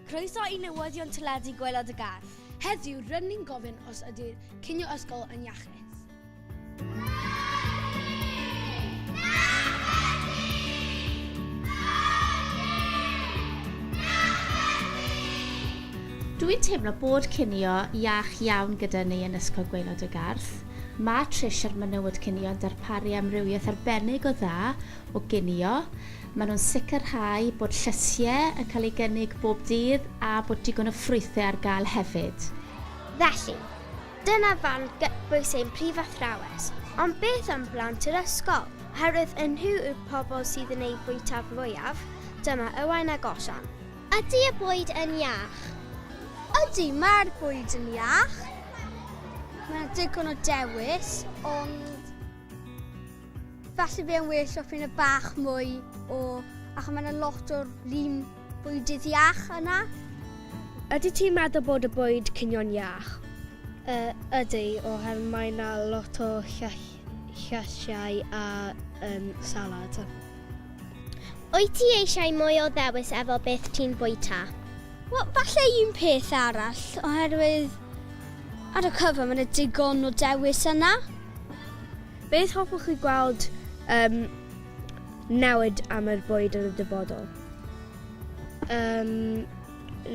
Croeso i newyddion teledu Gwaelod y Gar. Heddiw, rydyn ni'n gofyn os ydy'r cinio ysgol yn iachus. Dw i'n teimlo bod cinio iach iawn gyda ni yn Ysgol Gwaelod y Garth. Mae Trish a'r menywod cinio yn darparu amrywiaeth arbennig o dda o ginio. Maen nhw'n sicrhau bod llysiau yn cael eu gynnig bob dydd a bod digon o ffrwythau ar gael hefyd. Felly, dyna fan gytbwys ein prif athrawes, ond beth am blant yr ysgol? Oherwydd y nhw yw'r pobl sydd yn eu bwyta fwyaf, dyma Owain a Gosian. Ydy y bwyd yn iach? Ydy, mae'r bwyd yn iach. Mae 'na digon o dewis, ond falle bydd e'n well os bydd 'na bach mwy o... achos mae 'na lot o'r un bwydydd iach yna. Ydy ti'n meddwl bod y bwyd cinio'n iach? Yy, ydy, oherwydd mae 'na lot o llysiau a salad. Wyt ti eisiau mwy o ddewis efo beth ti'n bwyta? Wel, falle un peth arall, oherwydd ar y cyfan mae 'na digon o dewis yna. Beth hoffwch chi gweld yn newid am yr bwyd yn y dyfodol? Yym,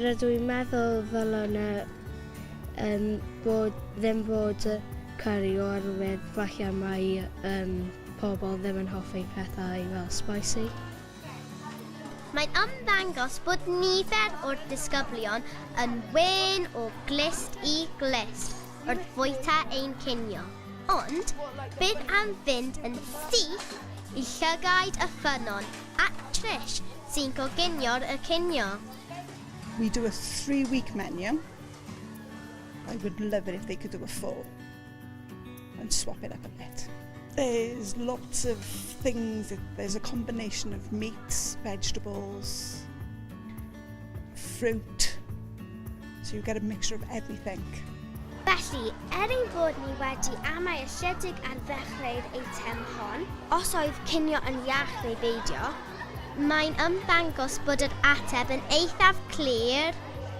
rydw i'n meddwl ddylen yna yym bod ddim bod curry oherwydd falle mai yym Pobl ddim yn hoffi pethau fel spicy. Mae'n ymddangos bod nifer o'r disgyblion yn wên o glust i glust wrth fwyta ein cinio. Ond beth am fynd yn syth i llygaid y ffynnon at Trish sy'n coginio'r y cinio? We do a three week menu, I would love it if they could do a four. and swap it up a bit. There's lots of things, there's a combination of meats, vegetables, fruit, so you get a mixture of everything. Felly, er ein bod ni wedi amau ychydig ar ddechrau'r eitem hon, os oedd cinio yn iach neu beidio, mae'n ymddangos bod yr ateb yn eithaf clir.